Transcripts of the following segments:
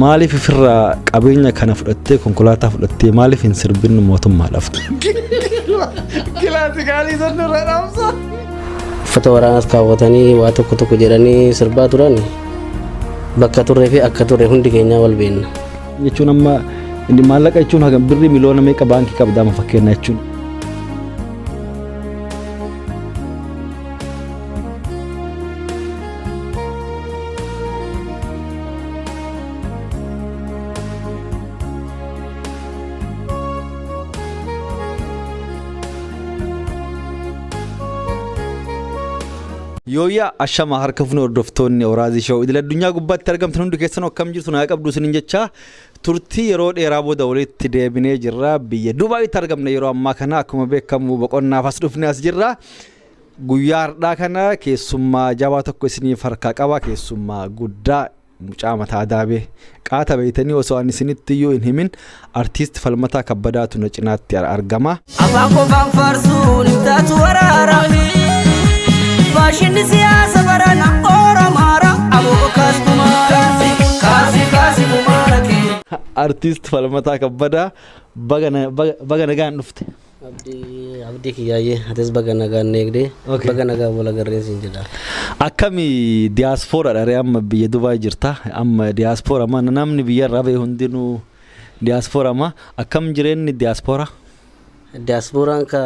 Maaliif ofirraa qabeenya kana fudhattee konkolaataa fudhattee maaliif hin sirbin mootummaa laftu? Kilaati gaalii sannu irra dhaamsa. Uffata waraanaas kaawwatanii waa tokko tokko jedhanii sirbaa turan bakka turree fi akka turre hundi keenyaa wal beenna. Jechuun amma inni maallaqa jechuun hagam birrii miliyoona meeqa baankii qabda amma fakkeenya jechuun. Yooyyaa ashama harka fuunee hordoftoonni Awuraazii Shoo idil addunyaa gubbaatti argamtan hundi keessan akkam jirtu naa qabdu isiniin jecha turtii yeroo dheeraa booda walitti deebinee jirra biyya Dubaayitti argamna yeroo ammaa kana akkuma beekamu boqonnaaf as dhufnee as jirra. Guyyaa hardhaa kana keessummaa jabaa tokko isiniif harkaa qaba keessummaa guddaa mucaa mataa daabee qaata beeytanii osoo ani isinitti iyyuu hin himin artiist falmataa kabbadaatu na cinaatti ar- argama. Afaan qofaan faarsuun hin taatu waraara. Faashinni siyaasa barana Oromaara. Aboo kaas kumaara. Kaasi kaasi kumaara kee. Artiist falmataa kabbadaa baga na- baga- baga nagaan dhufte. Abdii kiyyaayye atis baga nagaan nu eegde Okay. baga nagaan wal agarreen siin jedha. Akkami diyaaspoora ree amma biyya Dubaay jirta amma diyaaspoora ma namni biyya irraa ba'e hundinuu diyaaspoora ma akkam jireenyi diyaaspoora? Diyaaspooraan ka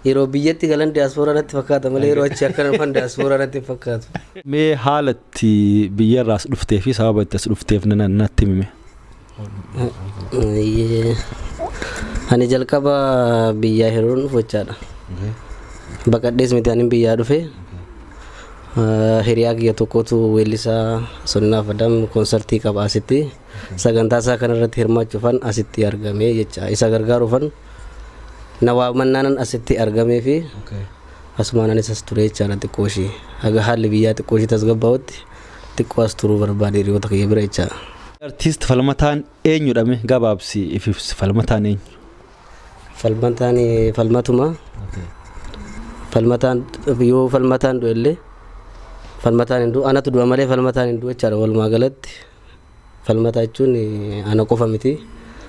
yeroo biyyatti galan diyaaspoora natti fakkaata malee yeroo achi akka dhufan diyaaspoora natti hin fakkaatu. Mee haala itti biyya irraa as dhuftee fi sababa itti as dhufteef na- na- natti himi mee. Ayyee. Ani jalqaba biyyaa hiruun dhufu jechaadha. Baqadhees miti ani biyyaa dhufe. Ah, Hiriyaa kiyya tokkotu weellisaa Sonnaa Fadam konsartii qaba asitti. Sagantaa isaa kanarratti hirmaachuufan asitti argame jecha. Isa gargaaruufan na waamannaanan asitti argamee fi asumaan anis as ture jechaadha xiqqoo ishii. Haga haalli biyyaa xiqqoo ishii tasgabbaa'utti. Xiqqoo as turuu barbaade hiriyoota kiyya bira jecha. Artiist Falmataan eenyudha mee gabaabsii if ibsi Falmataan eenyu? Falmataan falmatuma. Falmataan yoo falmataan du'ellee falmataan hin du'u anatu du'a malee falmataan hin du'u jechaadha walumaa galatti. Falmataa jechuun ana qofa miti.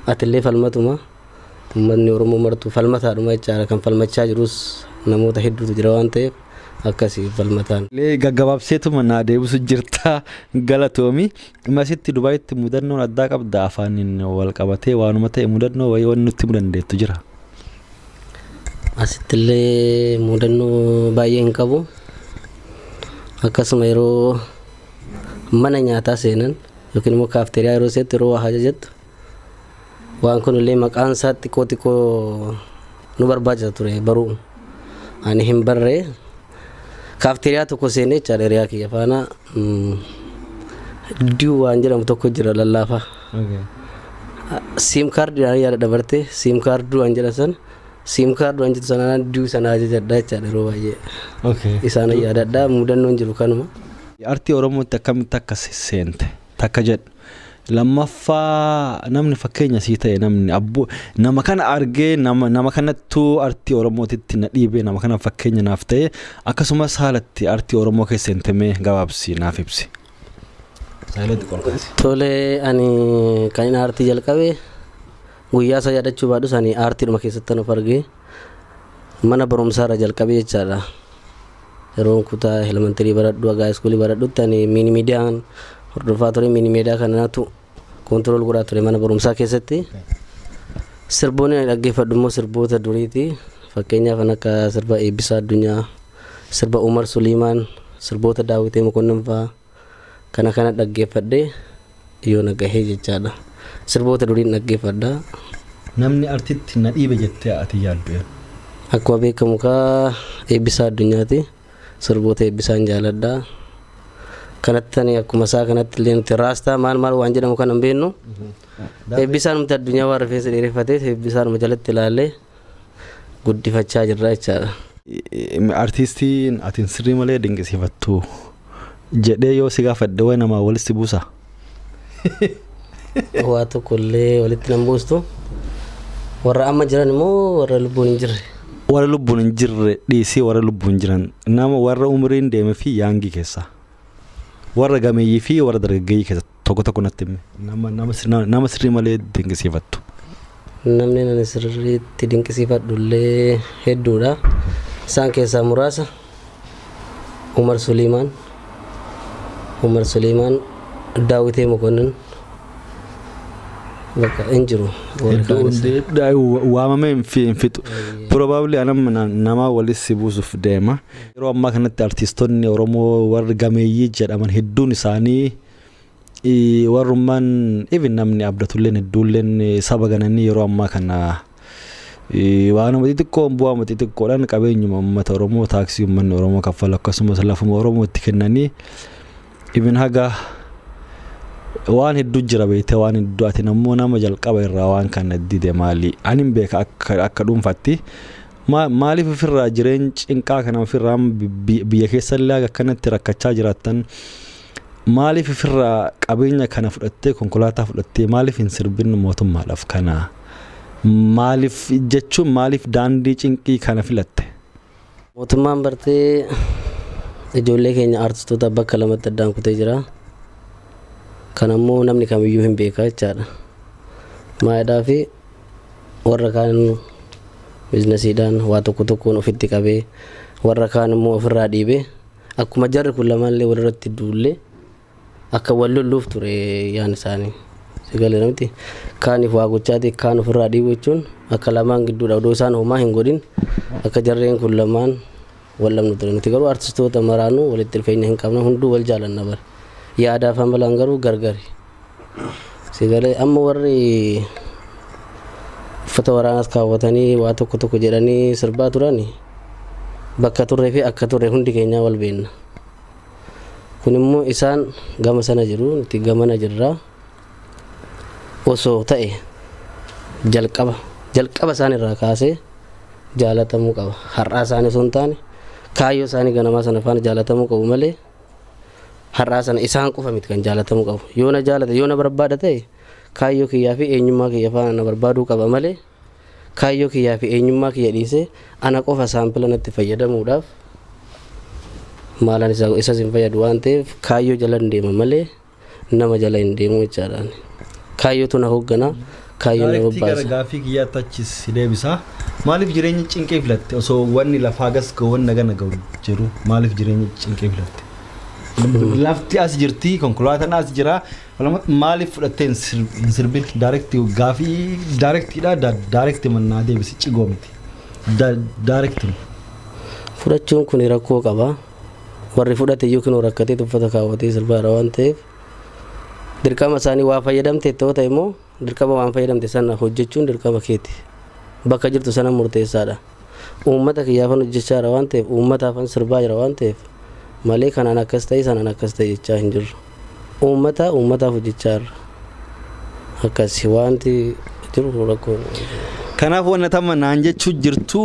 Atillee falmatuma. Uummatni Oromoo martuu falmataadhuma jechaadha. Kan falmachaa jirus namoota hedduutu jira waan ta'eef akkasi falmataan. Lee gaggabaabseetuma naa deebisu jirta galatoomi. Masitti Dubaayitti mudannoon addaa qabda afaaniin wal qabatee waanuma ta'e mudannoo wayii wanni nutti himu dandeettu jira. Asittillee mudannoo baay'ee hin qabu. Akkasuma yeroo mana nyaataa seenan yookiin immoo kaafteeriyaa yeroo seetti yeroo waa hajajattu waan kunillee maqaan isaa xiqqoo xiqqoo nu barbaachisa ture baruu ani hin barree kaafteeriyaa tokko seenee jechaadha hiriyaa kiyya faana diu waan jedhamu tokko jira lallaafaa siim kaardiidhaan yaada dabartee siim kaardii waan jedhan san Siim kaard waan jettu sanaan duu sana ajajadha jechaadha yeroo baay'ee. Okay. Isaan yaadadha mudannoon jiru kanuma. Artii Oromootti akkamitti akka se- seente takka jedhu. Lammaffaa namni fakkeenya sii ta'e namni abbo nama kana argee nama nama kanattuu artii Oromootitti na dhiibee nama kana fakkeenya naaf ta'e akkasumas haalatti artii Oromoo keessa seente mee gabaabsi naaf ibsi. Saayilooti qolkaasi. Tole ani kan inni aartii jalqabe Guyyaa isaa yaadachuu baadhus ani aartiidhuma keessattan of arge. Mana barumsaa irraa jalqabee jechaadha. Yeroon kutaa elementarii baradhu hagaa iskuulii baradhutti ani miini miidiyaan hordofaa ture miini miidiyaa kanatu koontirool godhaa ture mana barumsaa keessatti. Sirboonni ani dhaggeeffadhu immoo sirboota duriiti. Fakkeenyaaf kan akka sirba Eebbisaa Addunyaa, sirba Umar Suliimaan, sirboota Daawitee Mokonnon fa'aa. Kana kana dhaggeeffadhee yoona gahee jechaadha. Sirboota duriin dhaggeeffadha. Namni artitti na dhiibe jettee ati yaaddu eenyu? Akkuma beekamu kaa Eebbisaa Addunyaati. Sirboota Eebbisaan jaaladha. Kanatti ani akkuma isaa kanatti illee nuti raastaa maal maal waan jedhamu kana hin beeknu. Eebbisaan nuti addunyaa waan rifeensa dheereffateef Eebbisaanuma jalatti ilaallee guddifachaa jirra jechaadha. Artiistiin atin sirrii malee dinqisiifattu jedhee yoo si gaafadhe wayi namaa walitti si buusa? Waa tokko illee walitti nan buustu. Warra amma jiran immoo warra lubbuun hin jirre. Warra lubbuun hin jirre dhiisii warra lubbuun jiran nama warra umriin deeme fi yaangii keessa warra gameeyyii fi warra dargaggeeyyii keessa Tokko tokko natti himi. Nama, nama, sirna- nama sirrii malee dinqisiifattu. Namni ani sirriitti dinqisiifadhu illee hedduudha. Isaan keessaa muraasa Umar Suliimaan, Umar Suliimaan, Daawitee Mokonnin bakka hin jiru. Warri Hedduu kaanis. hundi- da- wa- waamamee hin fi- hin fixu. Probably anam na- nama walis si buusuuf deema. Yeroo ammaa kanatti artiistonni Oromoo warri gameeyyii jedhaman hedduun isaanii warrummaan even namni abdatulleen hedduulleen saba gananii yeroo ammaa kana waanuma xixiqqoon bu'aama xixiqqoodhaan qabeenyuma uummata Oromoo taaksii uummanni Oromoo kaffalu akkasumas lafuma Oromootti kennanii even haga waan hedduu jira beektee waan hedduu ati ammoo nama jalqaba irraa waan kana dide maali ani hin beeka akka akka dhuunfaatti maaliif ofirraa jireenya cinqaa kana ofirraa biyya keessallee akkanatti rakkachaa jiraattan Maaliif ifirraa qabeenya kana fudhattee konkolaataa fudhattee maaliif hin sirbin mootummaadhaaf kana maaliif jechuun maaliif daandii cinqii kana filatte? Mootummaan bartee ijoollee keenya aartistoota bakka lamatti addaan kutee jira. Kan ammoo namni kamiyyuu hin beeka jechaadha. Maayidhaa fi warra kaan biiznasiidhaan waa tokko tokkoon ofitti qabee warra kaan immoo ofirraa dhiibee Akkuma jarri kun lamaanillee walirratti duulle akka wal lolluuf ture yaan isaanii. Sagalee namti kaaniif waa gochaati kaan ofirraa dhiibu jechuun akka lamaan gidduudha odoo isaan homaa hin godhin akka jarreen kun lamaan wal dhabnu ture. Nuti garuu artistoota maraanuu walitti dhufeenya hin qabna hunduu wal jaalanna bara. Yaadaaf amalaan garuu gargari. Sigalee amma warri uffata waraanaas kaawwatanii waa tokko tokko jedhanii sirbaa turan bakka turree fi akka turre hundi keenyaa wal beenna. Kun immoo isaan gama sana jiru nuti gamana jirra. Osoo ta'e jalqaba jalqaba isaan irraa kaasee jaalatamuu qaba. Har'aa isaanii osoo hin taane kaayyoo isaanii ganamaa sana faana jaalatamuu qabu malee. har'aa sana isaan qofa miti kan jaalatamuu qabu yoo na jaalata yoo na barbaada ta'e kaayyoo kiyyaa fi eenyummaa kiyya faana na barbaaduu qaba malee kaayyoo kiyyaa fi eenyummaa kiyya dhiisee ana qofa saampila natti fayyadamuudhaaf maalaan isas hin fayyadu waan ta'eef kaayyoo jalan deema malee nama jala hin deemu jechaadhaan. Kaayyootu na hooggana. Kaayyoon na Daarektii gara bobbaasa. gaaffii kiyyaa tachis si deebisa. Maaliif jireenya cinqii filatte osoo wanni lafaa gas ga'u wanni nagana ga'u jiru maaliif jireenya cinqii filatte? Lafti as jirti konkolaataan as jira Walumaa- maaliif fudhattee hin sir- hin sirbin daarektii gaaffii daarektiidha da- daarektii mannaa deebisi cigoo miti Da- daarektii. Fudhachuun kun rakkoo qaba. warri fudhate iyyuu kinoo rakkatee tuffata kaawwatee sirbaa irra waan ta'eef dirqama isaanii waa fayyadamte itti ta'e immoo dirqama waan fayyadamte sana hojjechuun dirqama keeti bakka jirtu sana murteessaadha uummata kiyyaafan hojjechaa jira waan ta'eef uummataafan sirbaa jira waan ta'eef malee kanaan akkas ta'e sanaan akkas ta'e jechaa hin jirru. Uummataa uummataaf hojjechaa irra akkasi waanti jiru rakkoon. Kanaaf wanna tamma naan jechuu jirtu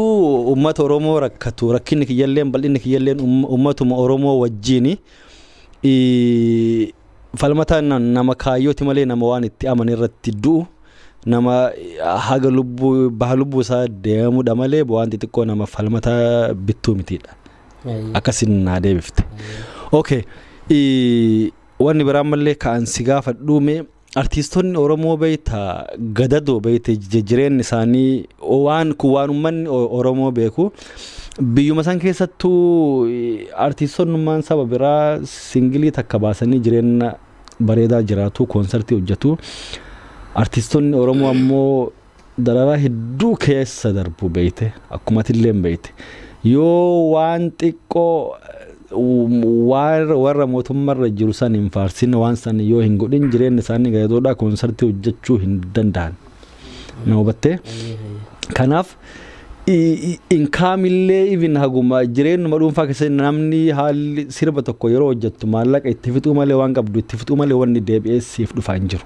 uummata Oromoo rakkatu rakkinni kiyyalleen bal'inni kiyyalleen uummatuma Oromoo wajjiini falmataa nama kaayyooti malee nama waan itti amane irratti du'u nama haga lubbuu baha lubbuu isaa deemudha malee waan xixiqqoo nama falmataa bittuu mitiidha. Ayyee. akkasin naa deebifte okay i- wanni biraa mallee ka'an si gaafadhuu mee artiistonni oromoo beeyta gadadoo beeyte jijjiireen isaanii waan kun waan ummanni O- oromoo beeku biyyuma san keessattuu i- artiistonnummaan saba biraa singilii takka baasanii jireenya bareedaa jiraatu koonsartii hojjetu artiistonni oromoo ammoo dararaa hedduu keessa darbu beeyte akkuma atilleen beeyte yoo waan xiqqoo waan warra mootummarra jiru san hin faarsin waan san yoo hin godhin jireenya isaanii gadoodhaa koonsartii hojjechuu hin danda'an na hubattee kanaaf inkaamillee even haguma jireenyuma dhuunfaa keessatti namni haalli sirba tokko yeroo hojjettu maallaqa itti fixuu malee waan qabdu itti fixuu malee wanni deebi'ee siif dhufaa hin jiru.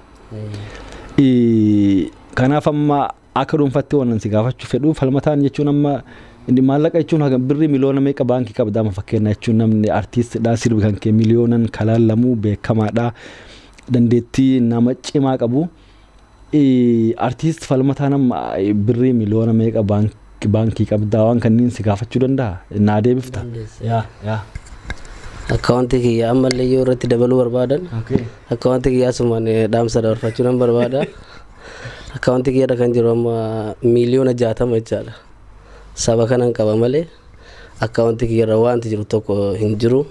Kanaaf amma akka dhuunfaatti waan si gaafachuu fedhu falmataan jechuun amma maallaqa jechuun haga birrii miliyoona meeqa baankii qabda amma fakkeenya jechuun namni artiistidha sirbi kan kee miliyoonan kalaallamu beekamaadha dandeettii nama cimaa qabu. Artiist falmataan amma birrii miliyoona meeqa baankii Baankii qabdaa waan kanniin si gaafachuu danda'a? Naa deebifta? Dandeessa. Yaa yaa. Akkaawuntii kiyya ammallee yoo irratti dabaluu barbaadan Okay. akkaawuntii kiyya asumaan eh, dhaamsa dabarfachuu nan barbaada. Akkaawuntii kiyyarra kan jiru amma miiliyoona jaatama jechaadha. Saba kanan qaba malee akkaawuntii kiyyarra wanti jiru tokko hin jiru.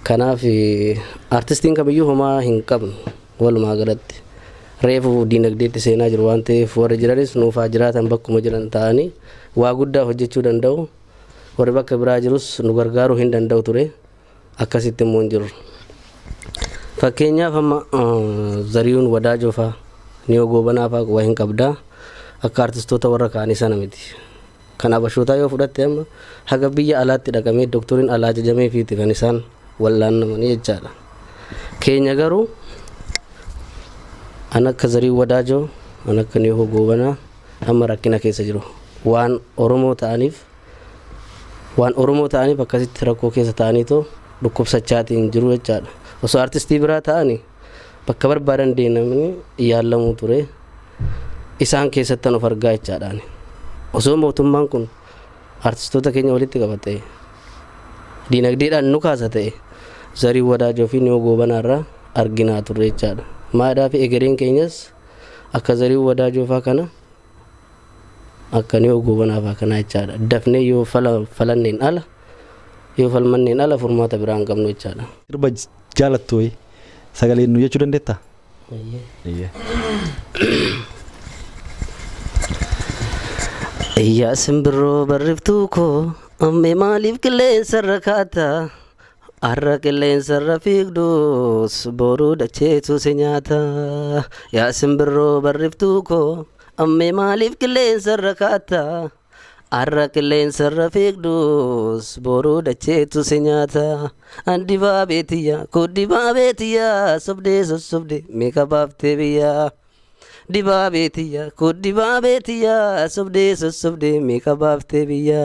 Kanaaf eh, artistiin kamiyyuu homaa hin qabnu. Walumaa galatti reefu diinagdeetti seenaa jiru waan ta'eef warri jiranis nuuf haa jiraatan bakkuma jiran taa'anii waa guddaa hojjechuu danda'u. Warri bakka biraa jirus nu gargaaruu hin danda'u ture. Akkasitti immoo hin jirru. Fakkeenyaaf amma Zariyuun Wadaajoo faa Niyoo Goobanaa faa quba hin qabdaa. Akka artistoota warra kaanii sana miti. Kan Habashootaa yoo fudhatte amma haga biyya alaatti dhaqamee doktoriin alaa ajajameefiiti kan isaan wal'aannamanii jechaadha. Keenya garuu an akka zarii wadaajoo an akka nihoo goobanaa amma rakkina keessa jiru waan oromoo ta'aniif waan oromoo ta'aniif akkasitti rakkoo keessa ta'aniitoo dhukkubsachaatiin jiru jechaadha osoo artistii biraa ta'ani bakka barbaadan deemnamni yaallamuu ture isaan keessattan of argaa jechaadhaan osoo mootummaan kun artistoota keenya walitti qabate diinagdeedhaan nu kaasa ta'e zarii wadaajoo fi niyoo goobanaarraa arginaa turre jechaadha maadhaa fi egereen keenyas akka zarii wadaajoo faa kana Akkanii hoo goobanaaf akkanaa jechaadha. Dafnee yoo fala falanneen ala yoo falmanneen ala furmaata biraa hin qabnu jechaadha. Sirba jaalattu wayii sagaleen nu jechuu dandeettaa? Eeyyee. Yaa simbirroo barriftuu koo ammee maaliif qilleensa irra kaata? Har'a qilleensarra fiigdus boruu dacheetu si nyaata. Yaa simbirroo barriftuu koo ammee maaliif qilleensarra kaatta? Har'a qilleensarra fiigdus boruu dacheetu si nyaata. Dibaabee tiyya koo dibaabee tiyya sobdee sossobdee meeqa baaftee biyya? Dibaabee tiyya koo dibaabee tiyya sobdee sossobdee meeqa baaftee biyya?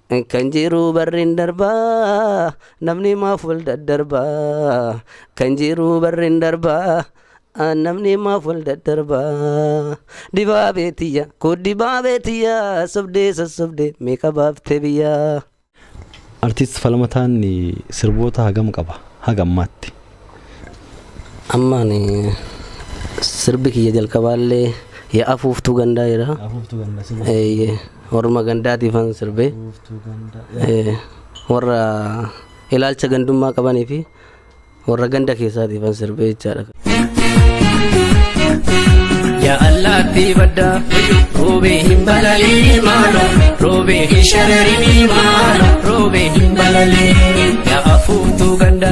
Kan jiruu barrin darbaa namni maaf wal daddarbaa kan jiruu barrin darbaa namni maaf wal daddarbaa dibaabee tiyya koo dibaabee tiyya sobdee sossobdee meeqa baaftee biyyaa. Artiist Falmataan sirboota hagam qaba haga ammaatti? Amma ani sirbi kiyya jalqabaallee yaa afuuftuu gandaa jira. Afuuftuu gandaa si buusu. Eeyyee warruma gandaatiifan sirbee Afuuftuu gandaa. eh, warra ilaalcha gandummaa qabanii fi warra ganda keessaatiifan sirbee jechaadha. Ya Allah tibadda Robe hin balali mala Robe hin sharari mala Robe hin balali Ya afutu ganda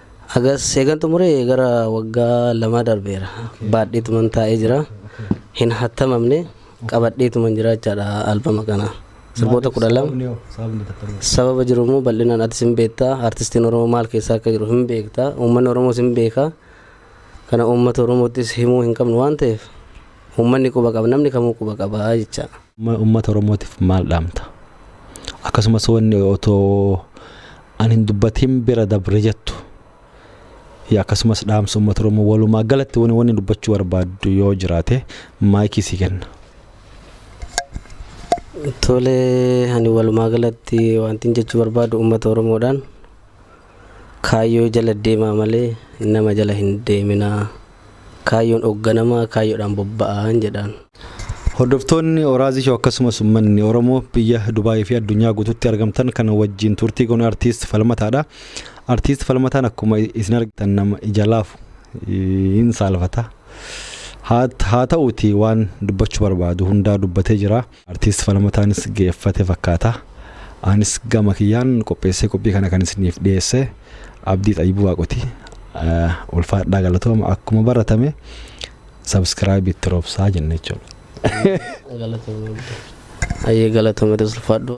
Hagas eegan xumure gara waggaa lamaa darbeera. Baadheetuman taa'ee jira. Hin hattamamne qabadheetuman jira jechaadha albama kana. Sirboota kudha lama. Sababni hoo? Sababni tattamuu. Sababa jiru immoo bal'inaan atis hin beekta. Artistiin Oromoo maal keessaa akka jiru hin beekta. Uummanni Oromoos hin beeka. Kana uummata Oromoottis himuu hin qabnu waan ta'eef uummanni quba qaba. Namni kamuu quba qaba jecha. Amma uummata Oromootiif maal dhaamta? Akkasumas wanni otoo an hin dubbatiin bira dabre jettu yaa akkasumas dhaamsa uummata Oromoo walumaa galatti wanni wanni dubbachuu barbaaddu yoo jiraate maayikii sii kenna. Tole ani walumaa galatti wantin jechuu barbaadu uummata Oromoodhaan Kaayyoo jala deemaa malee nama jala hin deeminaa. Kaayyoon ogganamaa kaayyoodhaan bobba'aan jedhaan. Hordoftoonni Orazi Show akkasumas ummanni Oromoo biyya Dubai fi addunyaa guututti argamtan kan wajjin turtii goonu Artiist Falmataadha. Artiist Falmataan akkuma isin argitan nama ija laafu hin saalfata. Haa ta'uuti waan dubbachuu barbaadu hundaa dubbatee jira. Artiist Falmataanis geeffate fakkaata. Anis gama kiyyaan qopheessee qophii kana kan isiniif dhiyeesse Abdii Xayyibuu Waaqoti. Ulfaadhaa galatooma akkuma baratame sabskiraayibii itti roobsaa jenna jechuudha. Ayyee galatooma ulfaadhu.